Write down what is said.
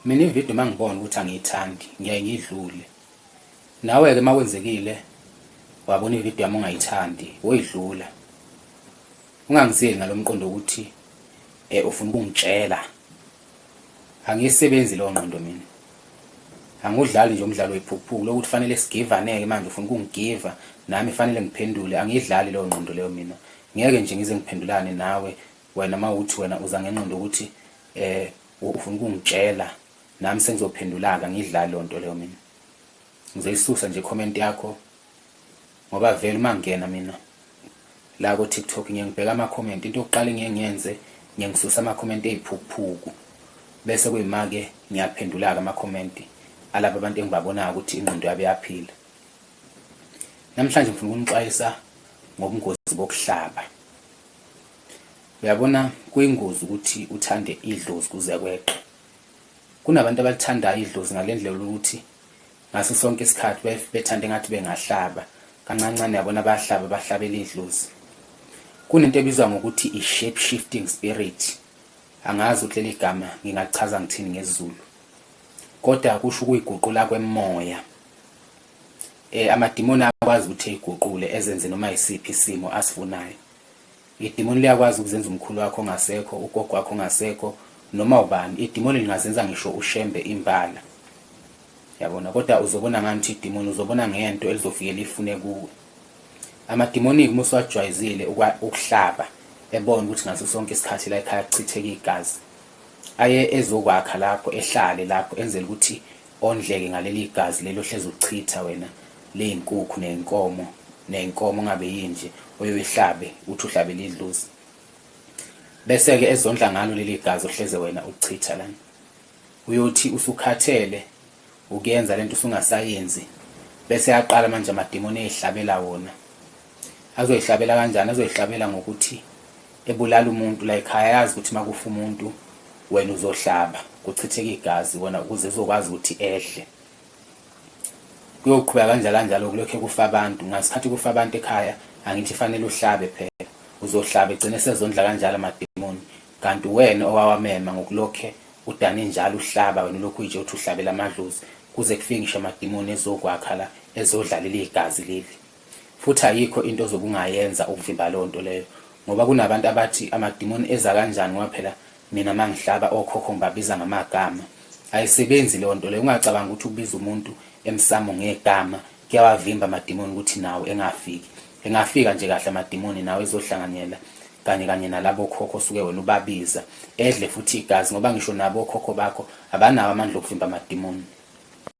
Mina ividiyo uma ngibona ukuthi angiyithandi ngiyaye ngiyidlule. Nawe-ke uma kwenzekile wabona ividiyo yami ungayithandi woyidlula. Ungangizeli ngalo mqondo ukuthi um ufuna ukungitshela. Angiyisebenzi leyo ngqondo mina. Angiwudlali nje umdlalo wephuphuku lokuthi kufanele sigivaneke manje ufuna ukungigiva nami fanele ngiphendule angiyidlali leyo ngqondo leyo mina. Ngeke nje ngize ngiphendulane nawe Wena mawuthi wena uza ngenqondo ukuthi eh ufuna ukungitshela nami sengizophendulaka ngidlala lonto leyo mina. Ngizoyisusa nje comment yakho ngoba vele uma ngingena mina la ko TikTok ngiye ngibheka ama comment into yokuqala ngiye ngiyenze ngiye ngisusa ama comment eziphukuphuku bese kuyimake ngiyaphendulaka ama comment alabo abantu engibabonayo ukuthi ingqondo yabe yaphila. Namhlanje ngifuna ukunixwayisa ngobungozi bokuhlaba. Uyabona kuyingozi ukuthi uthande idlozi kuze kweqe. Kunabantu abalithandayo idlozi ngalendlela ukuthi ngaso sonke isikhathi bethanda engathi bengahlaba kancancane yabona bayahlaba bahlabela idlozi. Kunento ebizwa ngokuthi i-shape shifting spirit. Angazi ukuthi leli gama ngingachaza ngithini ngesiZulu. Kodwa kusho ukuyiguqula kwemoya. Eh amadimoni akwazi ukuthi eyiguqule ezenze noma yisiphi isimo asifunayo. Idimoni liyakwazi ukuzenza umkhulu wakho ongasekho, ugogo wakho ongasekho, noma ubani. Idimoni lingazenza ngisho ushembe imbala. Yabona kodwa uzobona ngani ukuthi idimoni uzobona ngento elizofike lifune kuwe. Amadimoni uma usuwajwayizile ukuhlaba ebona ukuthi ngaso sonke isikhathi la ekhaya kuchitheka igazi. Aye ezokwakha lapho ehlale lapho enzela ukuthi ondleke ngaleli gazi leli ohlezi ulichitha wena ley'nkukhu ney'nkomo ney'nkomo ungabe yinje oye uyihlabe uthi uhlabela idlozi bese-ke ezondla ngalo leli gazi ohleze wena ulichitha lana uyothi usukhathele ukuyenza le nto usungasayenzi bese yaqala manje amadimoni eyihlabela wona azoyihlabela kanjani azoyihlabela ngokuthi ebulala umuntu la ekhaya yazi ukuthi makufa umuntu wena uzohlaba kuchitheka igazi wona ukuze uzokwazi ukuthi ehle kuyoqhubeka kanjalo kanjalo kulokho kufa abantu ngasikhathi kufa abantu ekhaya angithi fanele uhlabe phela uzohlaba egcine sezondla kanjalo amademoni kanti wena owawamema ngokulokhe udane njalo uhlaba wena lokhu nje uthi uhlabela amadlozi kuze kufike ngisho amademoni ezokwakha la ezodlalela igazi leli Futhi ayikho into ozobe ungayenza ukuvimba leyo nto leyo. Ngoba kunabantu abathi amadimoni eza kanjani ngoba phela mina uma ngihlaba okhokho ngibabiza ngamagama. Ayisebenzi leyo nto leyo. Ungacabangi ukuthi ukubiza umuntu emsamo ngegama kuyawavimba amadimoni ukuthi nawe engafiki. Engafika nje kahle amadimoni nawe ezohlanganyela kanye kanye nalabo khokho osuke wena ubabiza edle futhi igazi ngoba ngisho nabo okhokho bakho abanawo amandla okuvimba amadimoni.